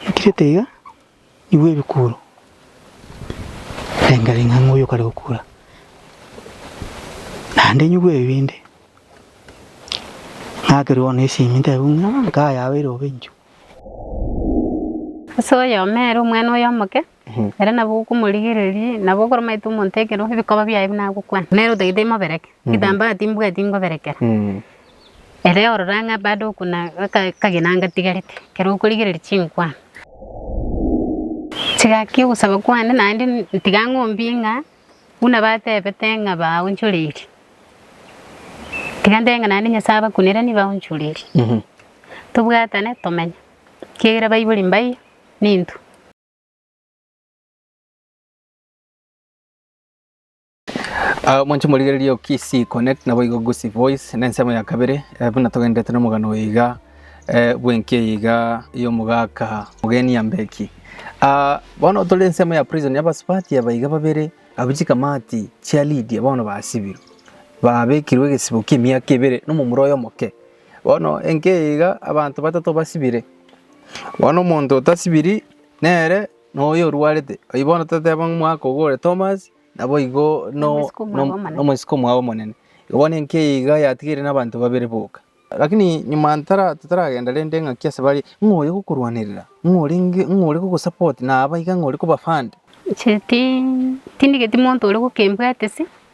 Nakirete iga nigwo ebikuro birengarenga ng'a oyo kare gokura, naende nyigwe ebi binde. Ng'akerwe bono esimi ntebe buna nkaye abeire obe inchuo. Ase oyomo ere omwana oyomoke Ere nabo okomorigereria, nabo okoromaete omonto ekero ebikoba biaye buna agokwana, nere otagete emobereke, egetaambaa timbwati ngoberekera. Ere orora ng'a bado okona akagena ngatigarete, ekero okorigereria chinkwana, chigaki ogosaba kwane naende ntiga ng'ombie ng'a buna batebete ng'a baonchoreiri, tiga ntebe ng'a naende Nyasae abakunere nigo aonchoreiri. Tobwatane tomenye, ekiagera baibori mbaia, ninto. Ah, mwanche morigererie okisi connect nabo igo gusi voice na ensemo ya kabere eh, buna togendete na omogano oyo iga eh, bwenki eye iga y'omogaka mugeni ya mbeki ah, bono tore ensemo ya prison yabasipati aba iga babere abo chikamati chia lidia bono basibirwe babekirwe egesibo kia emiaka ebere nomomura oyo omoke Bono enkiaiga abanto batato basibire, bono omonto otasibiri nere noyo orwarete. Oyio bono toteba ng'a omwaka ogo ore Tomas, naboigo nomosike omwabo omonene. Igo bono enkiaiga yatigeire nabanto babere boka. Lakini nyuma totaragenda rende engaki ase bare, ng'a oyo ogokorwanerera, ng'a orenge, ng'a ore gogosapoti, naba iga ng'a ore kobafund. Inche ti, tindigeti monto ore gokembwatisi.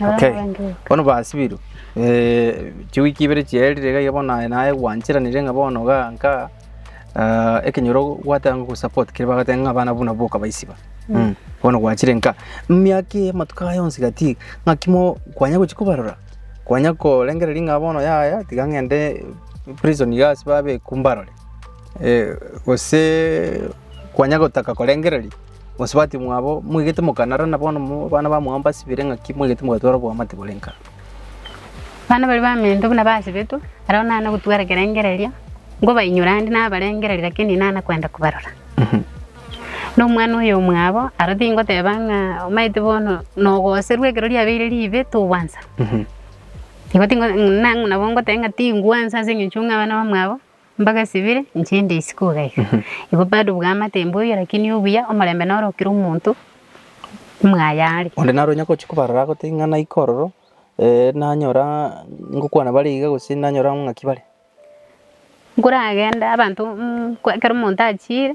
Okay. Bono basibiru. Eh chiwiki ibere chierire ga bono naye naye gwanchiranire ng'a bono ga nka ah, ekenyoro gwatanga ku support kire bagatanga ng'a abana buna boka baisiba. Mm. Bono gwachire nka miaka ya matuka yonsi gati ng'a kimo kwanya gochi kubarora. Kwanya korengereria ng'a bono yaya tiga ng'ende prison gas babe kumbarore. Eh gose kwanya gotaka korengereria Gose batimwa abo mwegete mokanara, na bono abana bamwabo mbasibire, ng'aki mwegete mogatwara oboamate bore nka? Abana baria bamento buna basibetwe, barabwo nana gotwara ekerengererio, nkobainyora ande nabarengererie, lakini inana kwenda kobarora. Na omwana oyo omwabo aro tingoteba ng'a omanyete bono nogoserwa ekero riabeire ribe togwansa. Igo tingo- na- nabo ngoteba ng'a tingwansa ase eng'encho ng'a abana bamwabo. Mbaga esibire inche nde isiko iga iga. Igo bado bwamate mbwa oyo lakini obuya omorembe noro kera omonto mwaye are. Onde naro onye agochia kobarora agotebie ng'a naika ororo, eh, nanyora ngokwana bare iga gose nanyora ng'aki bare. Nkoragenda abanto mm kwa ekero omonto achiire.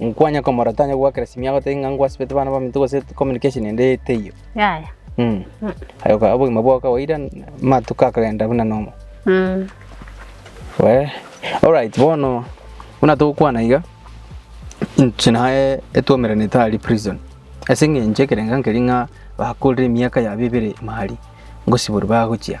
Nkwanye komorota onye gwakera simi agotebi ng'a ngwasibete bana baminto gose communication ende teiyo. Yaya. Mm. Aye oka- obogima bwao kawaida amatuko akagenda buna normal. Mm. Wee. Alright, bono buna togokwana iga inche naye etwomeranete aria prison. Ase eng'encho ekerengo nkeria ng'a bakorire emiaka yabo ebere ime aria, ngosiborwa bagochia.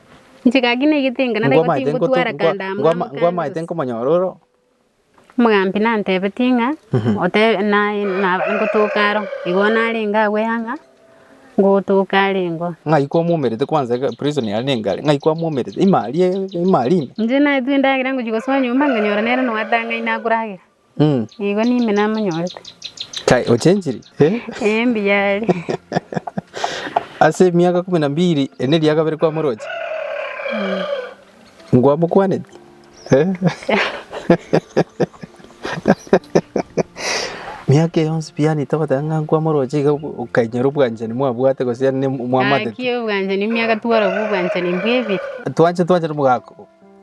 Inche gaki naigete ng'a nare igo tingotwara kando amo na mokambi ngwamaete bose. nkomonyora ore oo. Omogambi nantebetie ng'a ote- na- na- ngotoka aro. Igo narenge agwo eyanga, ngotoka are ingo. Ng'ai kwamwomerete kwanza iga prison yaye niga are, ng'ai kwamwomerete? Ime aria ime aria ime. Inche naetwa endagera ngochia gosoa nyomba, nkanyora nere noe atang'aine akoragera. Mm. Igo nime namonyorete. Kai ochenchiri. Eh? Eh, mbiyari. Ase emiaka kumi na mbiri ene eria kabere kwa moroche. Ngwa mokwaneti. Eh? Miaka yonsi piani togotanga ng'a nkwa moroche iga okainyora obwanchani mwabwate gose yaani ne- mwamatete. Aki obwanchani miaka twara obwanchani mbwebiri. Twanche twanche nomogaka.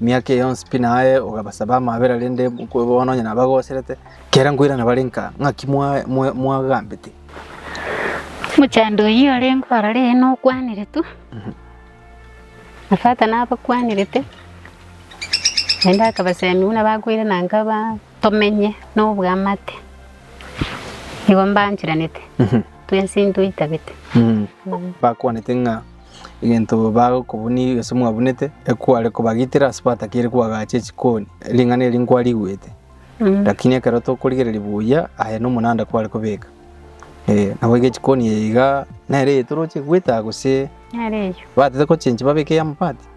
Emiaka eye yonsi pi naye ogabasaba amabera, rende bono onye nabagoserete, kera nkoirana bare nka ng'aki mwagambete. Omochando oyio orengeo aroro eye nokwaniretwe, na Fata nabakwanirete, naende akabasemi buna bakoirana nka tomenye nobwamate, nigo mbanchiranete, twensi ntoitabete. Bakwanete ng'a. egento bagokobunia gose mwabunete, ekware kobagitera ase batakeire koagacha echikoni, ring'ana eri nkwarigwete. Lakini ekero tokorigereria buya, aye nomonanda kware kobeka. Ee, nabo iga echikoni eye iga nere eye toroche goeta gose Nere eyio. batete gochenchi babeke ey'amabati?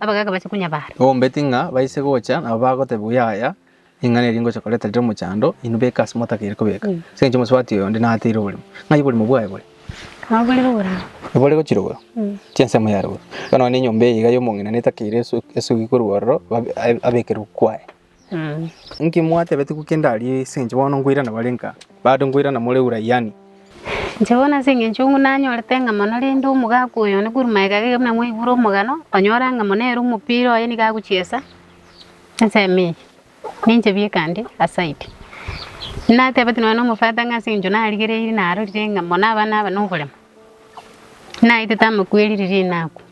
Abagaaka bache kunyabara. Obombeti ng'a baise gocha nabo bagoteba oyo aya, Ring'ana eri ngocha koreta rire omochando, inwe beka ase motakeire kobeka, ase engencho omosubati oyo onde nateire oborimo. Ng'ai oborimo bwaye bore? Nabo bore boboraro. Nabo ore gochirogora? Chinsemo yarogorwe. Iga nonya nenyomba eye iga y'omong'ina netakeire esu- esugi korwa ororo, babe- abekerwe kwaye. Inki mwatebeti gwe kende aria ase inche bono nkoirana bare nka, bado nkoirana more Uraiani? Inche bono ase engencho ng'u nanyorete eng'ama mono rende omogaka oyo one korwa magega geke buna mwaigure omogano, onyore eng'ama na ere omopira oye nigo agochiesa ensemo eye, na inche bikande aside. Natebeti nonya na omofata ng'a ase engencho narigereiri narorire ng'a mono abana aba noboremo, Naetete amakweri riria inakwa.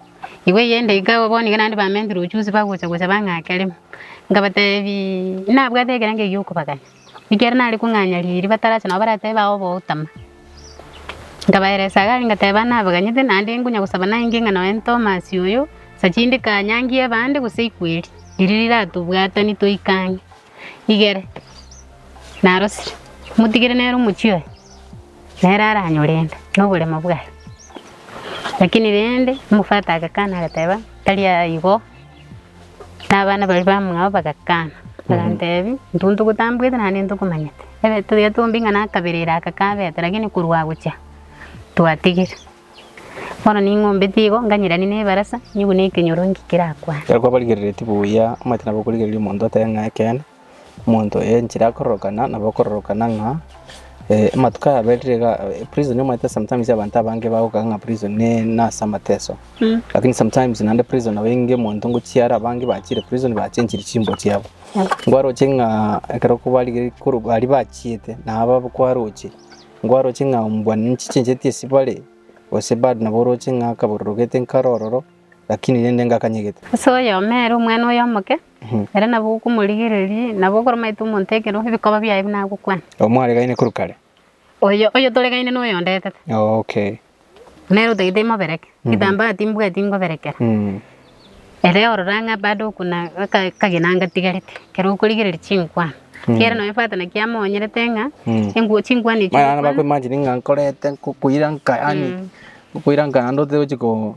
Igo eyende iga igo bono iga naende bamentire ochusi bagocha gocha bang'ake rimo. Ngabatebi, nabwate ekerengo giokobagania, ekero nare kong'anya riiri batarache nabo baratebe ao bautama. Nkabaeresa iga aria ngateba nabaganyete naende nkonya gosaba nainge ng'a nonya Tomasi oyo, sacha inde kanyangi ebande gose ikweri, riria riratobwatani toika ang'e. igere narosire, motigere nere omochie oye, nere aranyore ende na oboremo bwaye. Lakini rende omofati agakana agateba, tari aigo, na abana baria bamwabo bagakana, bagantebi, intwe ntogotambuete naende ntokomanyete, ebe toyete bombie ng'a nakaberire aka kabete, lakini korwa gochia twatigire. Bono ning'ombeti igo, nganyerani nebarasa, nyigwe nekenyoro inki kerakwane. Ekero kwabarigereretie buya omanyete nabo okorigereria omonto otebe ng'a ekeene, omonto oyo enchera akororokana nabo okororokana ng'a amatuko aya aberire iga prison omanyete sometimes abanto abange bagokaka ng'a prison nase amateso lakini sometimes naende prison nabo enge omonto ngochia are abange bachire prison bachenchiri chimbo chiabo. Nkwaroche ng'a ekero kwabarigereiri korwa aria bachiete nabo abakwaroche. Nkwaroche ng'a mbwa ninchichencheti esibare, gose bado nabo oroche ng'a akabororogete nkare ororo, lakini rende ngakanyegete. Ase oyomo ere omwana oye omoke, ere nabo okomorigereria, nabo okoromanyete omonto ekero ebikoba biaye buna agokwana. Omwaregaine korwa kare. Oyo oyotoregaine noyo ondetete. Okay. Nere otagete imobereke, Kitambaa timbwati ngoberekera. Ere orore ang'e bado okuna aka akagena ngatigarete, ekero okorigereria chinkwani. Kiere nonya fata naki amoonyerete ng'a enguo chinkwani echi Maya abana bakwa imagine ng'a nkorete nkokoira nka yaani nkokoira nka naende otiga gochia ko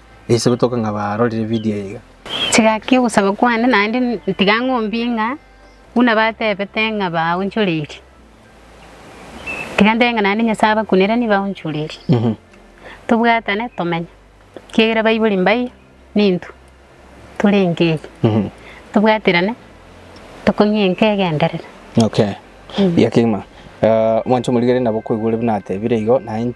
Eisebetoka ng'a barorire video eye iga. Chigaki ogosaba kwane, naende ntiga ng'ombie ng'a buna batebete ng'a baonchoreiri, tiga ntebe ng'a naende Nyasae abakunere nigo baonchoreiri. Tobwatane tomenye, ekiagera baibori mbaye na intwe tore enka eye. Tobwaterane tokong'ie enka egenderere. Okay, ekiagera kegima, mwanche omorigererie nabo koigwa ore buna atebire igo, naende.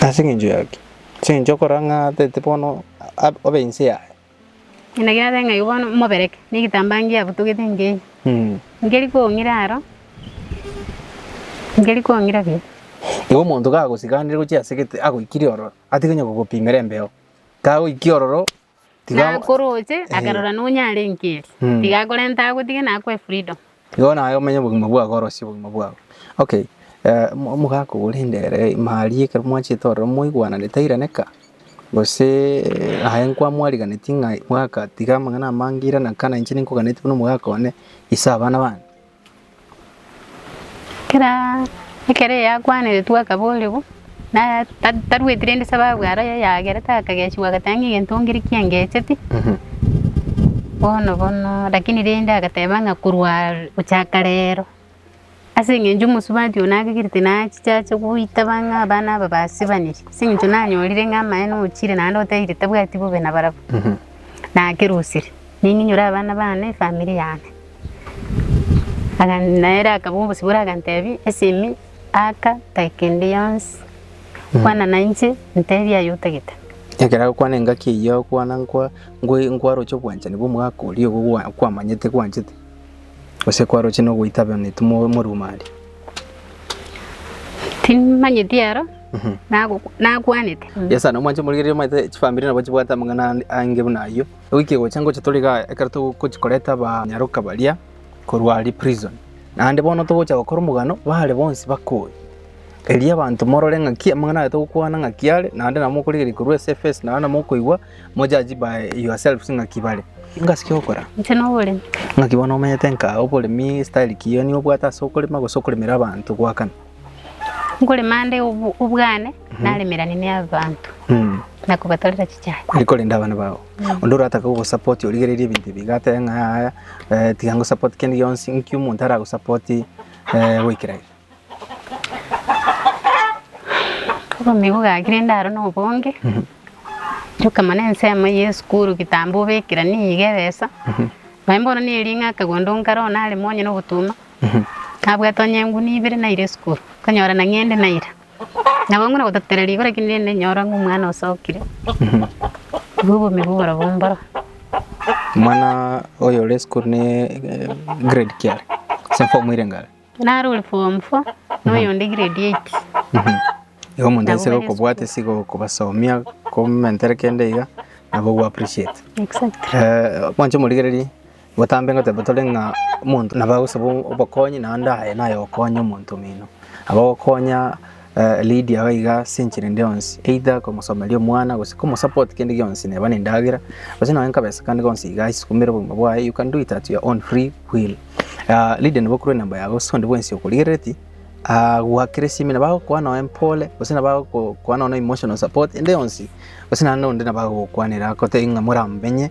Na ase engencho y'aki, ase engencho okora ng'a tete bono obe inse yaye. Ena gera abe ng'a igo bono mobereke na egetambaa ngiabutogete nkeiyo. Nkeri kong'ira aro, nkeri kong'ira buya. Igo omonto kagosikanire gochia ase egete agoikire ororo, atige onye kogopimera embeo, kagoikia ororo. Na akoroche, akarora nonya are enkeri, Mm. tiga akorente agotige na akwe freedom. Igo naye omenye obogima bwago orosie obogima bwago okay eh, omo- omogaka ogo rende ere maria ekero mwachete ororo moigwanane tairaneka gose aye nkwamwariganeti ng'a mogaka tiga amang'ana amange irana kana inche ninkoganeti buna omogaka one ase abana bane. Ekero ekero yakwaneretigwe akaboorigwa naya ta tarweti rende sababu aro yayagerete akagechigwa agateba ng'a egento ngire ki engecheti, bono bono lakini rende agateba ng'a korwa gochaka rero ase eng'encho omosubati oyo nagigirite nachichache goita bang'e abana aba basibaniri ase eng'encho nanyorire ng'a amaene ochire naende otebiire tabwati bobe nabarabwo, nakerosirie ning'inyore abana bane efamiri yane. Na ere akabua obosibore, aganteebia, Esemi aka tai kende gionsi, kwana nainche, nteebie aye otagete. Ekero agokwana engaki eyio agokwana nkwa, nkwaroche obwanchani bw'omogaka oria ogo kwamanyete kwanchete, gose kwaroche nogoitabanetu morumari. Timanyeti ero, nakwanete. Yes, nomwancha morigereria omanyete chifamiri nabo chibwate amang'ana ange buna ayio. Goika egocha ngocha tore iga ekero togochia koreta abanyaroka baria korwa aria prison, naende bono togocha gokora omogano bare bonsi bakoe. Erio abanto morore ng'aki amang'ana aya togokwana ng'aki are, naende nabo mokorigereria korwa ase efesi naende nabo mokoigwa mo judge by yourselves ng'aki bare. Ingo ase ogokora? Inche noboremi. Ng'aki bono omenyete nka oboremi style ki? Nigo obwate ase okorema gose okoremera abanto goakana? Nkorema ande obwane, naremerane n'abanto, na kobatorera chichae. Eri korenda abana bao. Onde oratake gogosupport origererie ebinto ebi iga atebe ng'a yaya tiga ngosupport kende gionsi, nki omonto aragosupport goikera iga? Obobe bogakire inde aro nobonge, rioka mono ensemo eye esukuru kitambo obekera nigo ebesa, nonye bono nere ng'aka gondo nkare oo naremwa onye nogotuma, Nabwate onye enguni ibere naire esukuru, nkonyora na ng'ende naira. Nabo ng'una gototerera rigo, lakini rende ninyore ng'a omwana osokire. Igo obogima bwo oborobwo mboro. Omwana oyo ore esukuru ne grade ki are? Ase form ere ngare? Nare ore form four, na oyonde grade eight. Igo omonto aise Nabo bari gokobwata ase gokobasomia, komentere kende iga, nabo ogo appreciate. Exactly. Eh, mwanche omorigererie Botambe ngoteeba tore ng'a omonto nabo agosaba obokonyi, naende aye naye okonya omonto omino. Abagokonya Lydia iga iga ase enchera ende yonsi, either komosomeria omwana gose komosupport kende gionsi, neba nendagera gose nonya nkabesa kande gonsi iga aisukumere obogima bwaye, you can do it at your own free will. Lydia nabo okure enamba yago gose onde bwensi okorigereti agoakere esimi nabo agokoa nonya mpore gose nabo agokoa nonya emotional support ende yonsi gose naende onde nabo agogokwanera agotebi ng'a moramomenye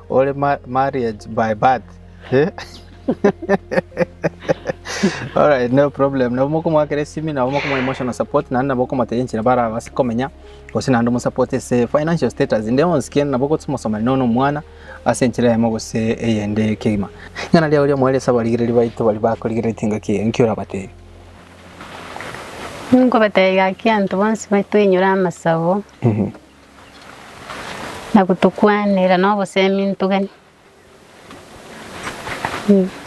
Ore marriage by birth alright no problem nabo mokomoakera esimi nabo mokomoa emotional support naende nabo okomotebi enchera barabase komenya gose naende omosupport ase financial status inde onsi ken nabo gosomosomania nonya na omwana ase enchera eyemo gose eyende kegima. Ring'ana riago ri'omoerio ase abarigereri baito baria bakorigeretie engaki eye, inki orabatebi? Inkobatebi gaki abanto bonsi baitoinyore amasabo. na gotokwanera nobosemi ntogani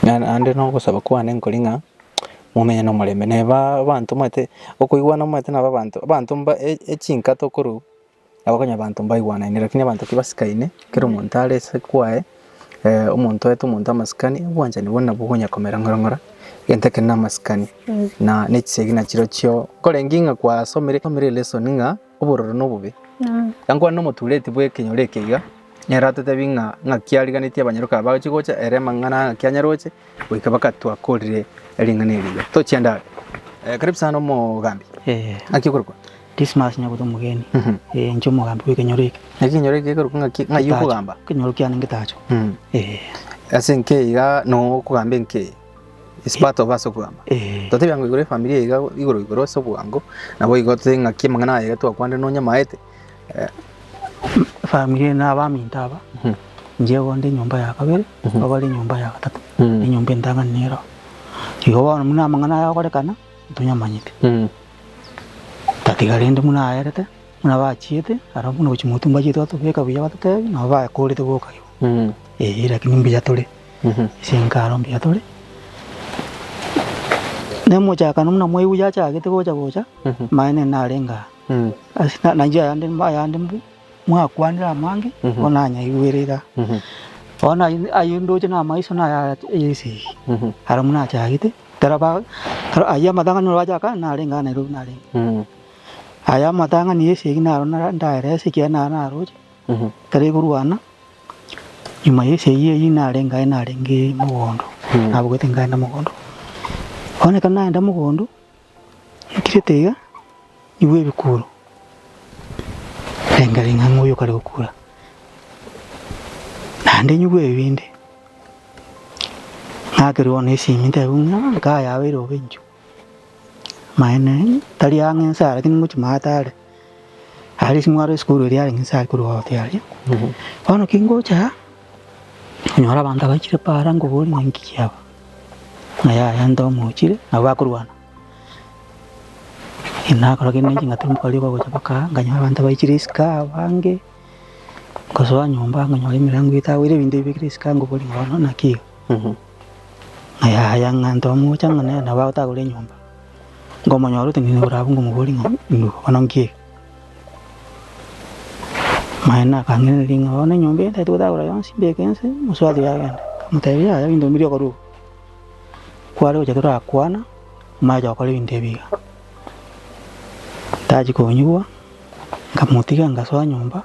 naende nogosaba kwane nkore ng'a momenye na omorembe na abanto omanyete okoigwana omanyete nabo abanto abanto mba echinka tokorwa nabo okonyora abanto mbaigwanaine lakini abanto tibasikaine kera omonto are ase kwaye omonto oete omonto amasikani obwanchani bono nabwo okonya komera ng'ora ng'ora egento ekero na amasikani na echisegi nachirochio nkorengi ng'a kwasomire lesson ng'a. obororo na obobe, iga nkwane nomotureti bw'ekenyoro eke iga, nere atotebie ng'a ng'aki ariganetie abanyaroke aba bagochia gocha, ere amang'ana aya ng'aki anyaroche, goika baka twakorire ring'ana eri iga. Tochia endagera. Eh, karibu sana omogambi. Eh, Ng'aki okorokwa? Dismas nyabuto omogeni. Mhm. Eh, inche omogambi bw'ekenyoro eke. Ng'aki ekenyoro eke gekorokwa ng'aki ng'ai Getacho. okogamba? Ekenyoro kiane ngetacho. Mm. Eh. Ase enki iga nokogamba enki? is part of ase obwango. Eh. Totebi ang'o igoro efamilia iga igoro igoro ase obwango, nabo igo totebi ng'aki amang'ana aya iga twakwanire nonya maete. Eh, Efamilia eye na abaminto aba, Mhm. inche igo nde enyomba ya kabere, Mhm. igo bare enyomba ya gatato, Mhm. enyomba entang'ani nero. Igo bono buna amang'ana aya agorekana, ntonyamanyete. mm, Tatiga rende buna aerete, buna bachiete, ara buna gochi motumba achiete batobeka buya batotebi, nabo bakorete boka igo. mm, Eh, lakini mbuya tore. Chinkaro mbuya tore nemochakano buna mwaigwa yachagete gocha gocha maene narenge aa nainche ayande ayande mbu mwakwanire amange bono nanyaigwere iga bono ayio ndoche na amaiso naya esegi aro buna achagete ekero ba ayio amatang'ani orwachaka narenge aa Nairobi narenge aya amatang'ani ya esegi naro nda ndaerese ekiagera naro naroche ekero ekorwana Nyuma y'ense eyio eyio nare ngaye narenge mogondo, nabogete ngaenda mogondo. Bono ekero naenda mogondo, nturete iga, nyigwe ebikuro, renga ring'a ng'a oyio okare gokura. Naende nyigwe ebibindi, ng'akerwe bono esimi ntebe buna, nkaye abeire obe inchuo. Maene tari ang'e inse aa, rakini ngochia maate are, aria ase mwaro esukuru eria arenge inse aria korwa ogotia aria. Bono ki ngocha aa, nyore abanto abaichire paara ngoboria ng'a inki kiaba? Ng'a yaya nto mochire, nabo bakorwana. Nakora kende ching'aki rituko riria bagocha mpaka aa, nkanyora abanto baichire esika abange, nkasoa nyomba nkanyora emirango etagwire ebinto bibekire esika ngoboria ng'a bono naki iga? Ng'a yaya, ng'a ntomocha ng'a nere nabo agotagora enyomba, nkomonyora ote ng'ina igoro abwo nkomobori ng'a induka bono nkie eke. Naye nakang'ereria ng'a bono enyomba eye ntagete gotagora yonsi mbeke nse, mosubati oye agende. Nkamotebia yaya ebinto ebi mbiri okore obo. Kware gocha torakwana, mwacha gokora ebinto ebi iga. Tachia konyigwa, nkamotiga ngasoa nyomba.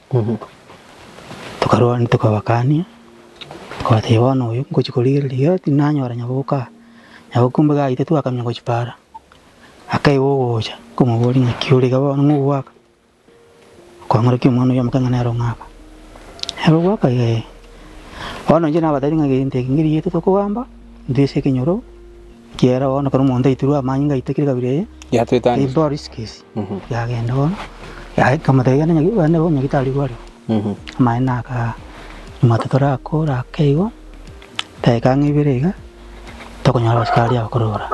Obo tokarwani tokabakania, tokabatebia bono oyo ngochia korigereria iga tinanyora nyaboka aa, nyaboka ombe gaita twakamenya gochia para, akaiba ogocha nkomoboria ng'aki ore iga bono ng'a ogwaka? Kwang'orokia omwana oyomo kang'ana ere ong'aka, ere ogwaka iga ee. Bono inche nabatebi ng'a gento eke ng'iriete tokogamba, ntwise ekenyoro. Kiagera bono ekero omonto aitirwe amanyinga aite kera ekabira eye, Yatwetania. aimba orisikesi, Mhm. yagenda bono, yaye kamotebia genda nyagi- genda bono nyagitari igwe are. Mhm. Amaene akaa, omwate torakora ake igo, daika ang'e ibere iga, tokonyora abasikari abakorora.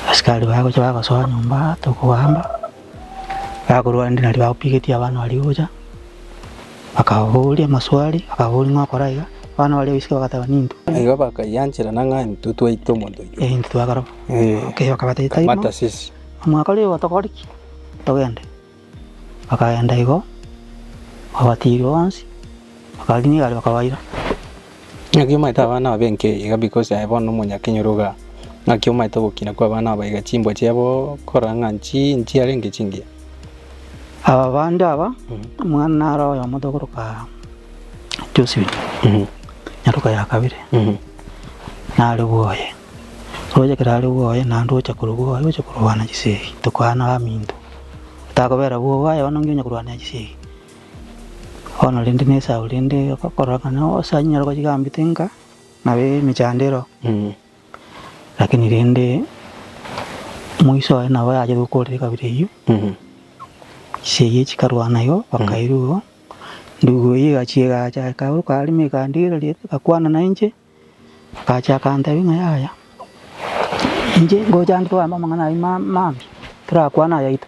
Abasikari bagocha bagosoa nyomba, tokoamba. Bakorwa rende nario bagopigetie abana baria gocha, bakababoria amaswali, bakababoria ng'a okora iga, abana baria goiseka bagateba ninto. Na igo bakaianchera na ng'a intwe twaita omonto oito. Eh, intwe twakaroba. Eh, Okay, bakabatebia tari mata mono. sisi. Mwakora igo tokore ki? Togende. Bakagenda igo, babatiiri bonsi, bakariina egari bakabaira. Naki omaete abana aba b'enke iga because aye bono nomonyakenyoro igaa. Naki omaete ogokina kw'abana aba iga chimbwa chiabo korora ng'a nchi inchi yarenge chingiya. Aba bande aba, omwana naro oyomo togoroka Josephine, nyaroka ya kabere, nare bwoye. Roche ekero are bwoye, naende ogocha korwa bwoye oche korwana chisegi, tokoanao aminto. Otakobera bwogo aye bono nonye onya korwanera chisegi. Bono rende n'Esau rende okororokana gose anyare kochigambia tinka nabo emechandero, lakini rende moiso oye nabo yacha gokorera ekabira eyio, chise eyio chikarwana igo bakairwa igo, ndugu eyio egachia egacha ekaimoka arimo ekandigereria ekakwana na inche, agacha akantebia ng'a yaya, inche ngocha ande togambe amang'ana ayio ma- mambia, torakwane ayaito.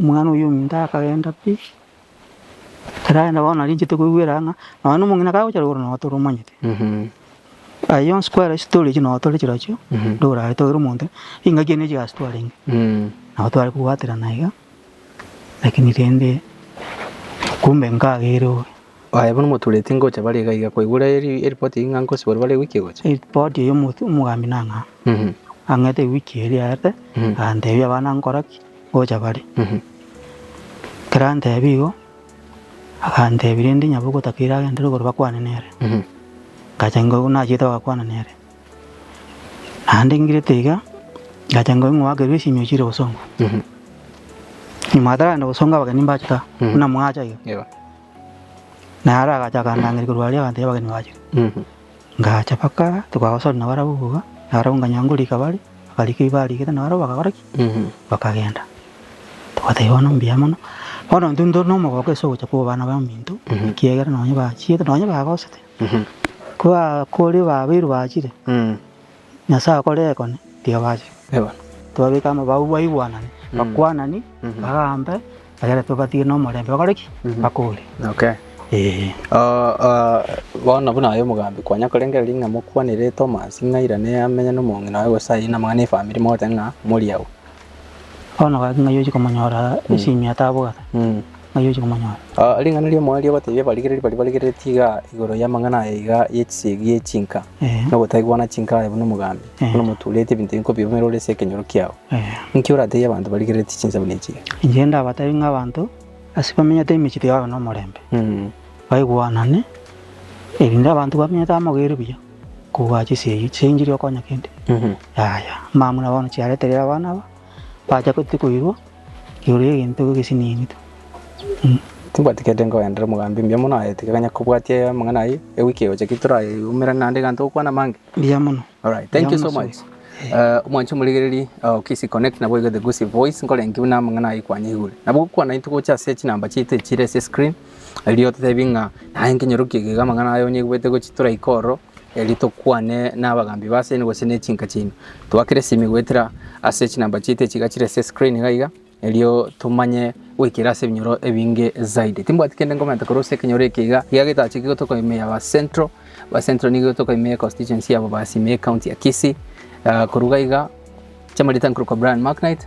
Omwana oyio ominto akagenda pi, ekero arenda bono nari inchete koigwera ng'a nonya na omong'ina kagocha rogoro nonya toromanyete. Aya yonsi kware chistory echio nonya tore chirochio, ndorare togere omonto engaki eye ne chigasi twarenge, nabo tware kobwaterana iga, lakini rende kumbe nkageire obe. Aye bono motureti ngocha bare iga iga koigwera eripoti eyio ng'a nkosibwa bare ewiki egocha. Eripoti eyio omotu omogambi nang'aa ang'ete ewiki eye riaerete aganteebia abana nkora ki ngocha bare. Ekero anteebia igo, aganteebia rende nyabo ogotaka iragentere igoro bakwane nere. Ngacha ingo nachiete bagakwana nere. Naende ngirete iga, ngacha ngoe ng'a oakerwe esinyo ochire gosongwa. Nyuma ataragenda gosongwa abageni mbachete aa, buna mwacha iga. Yebo. Naye ara agacha akandangeria korwa aria agantebi abageni bachire. Ngacha mpaka ara, tokagosori na barabwo iga, na barabwo nkanyora ngorika bare, bakarika ebi barigete na barabwo bagakora ki? Bakagenda. Tobatebia bono mbuya mono, bono intwe ntore na omogoko ase ogocha kwa obana baminto, ekiagera nonye bachiete, nonye bagosete. Ko bakori babairu bachire, Nyasae akore ekone, tiga bache. Tobabeke amabao baigwanane, bakwanani, bagambe, egere tobatige nomorembe bakore ki? Bakore. Okay. Ee. Bono buna aye omogambi kwanya korengera ring'a mokwanere Thomas ng'a airane amenye nomong'ina oye gose aye namang'ana efamiri mogote ng'a mori agwo. Bono gaki ng'ai ochi komonyora esimia tabogete? ng'ai oche komonyora. Ring'ana ri'omoerio ri'ogoteebia abarigereria baria barigereretie iga igoro y'amang'ana aya iga y'echisiegi ya echinka, Ehe. nogotaigwana chinka aye buna omogambi, Ehe. buna omotuurete ebinto ebinge kobirumera ore ase ekenyoro kiao. Ehe. Inki orateebie abanto barigereretie chinsemo na echiiya? Inche ndabateebie ng'a abanto ase bamenyete emechie tiga babe nomorembe, Mm. baigwanane, erinde abanto bamenyete amo babeire buya, kobua chisiegi, chinchiri okonya kende. Mhm. Yaya, amang'ana bono chiarete rero abana aba. Bacha gotete koirwa igoro y'egento gesinigitwe. Tibwati kende nkogenderera omogambi mbuya mono aye tiga kanya kobwatia eye amang'ana ayio ewiki egocha ki torayeumera naende egento gokwana amange. Mbuya mono. Alright, thank you so much. Eh, omwanchi omorigereri oh, Kisi Connect nabo iga the Gusii Voice nkore enki buna amang'ana ayio kwanyaigure. Nabo gokwana intwe gocha ase chinamba chiaito echire ase screen erio totebi ng'a naye nkenyorokie iga amang'ana aye onyaigwete gochi toraika ororo Erio tokwane n'abagaambi b'ase eeno gose n'echinka chiaino, twakere esimi goetera ase chinamba chiaito echi iga chire ase escreen iga iga, erio tomanye goikera ase ebinyoro ebinge zaidi. Timbwati kende nkomenta korwa ase ekenyoro eke iga, iga getaacha iga tokoimia aba Central, aba Central nigo igo tokoimia econstituency yabo basimie ecounty ya Kisii. Korwa iga iga, chiamarieta nkorokwa Brian Macknight.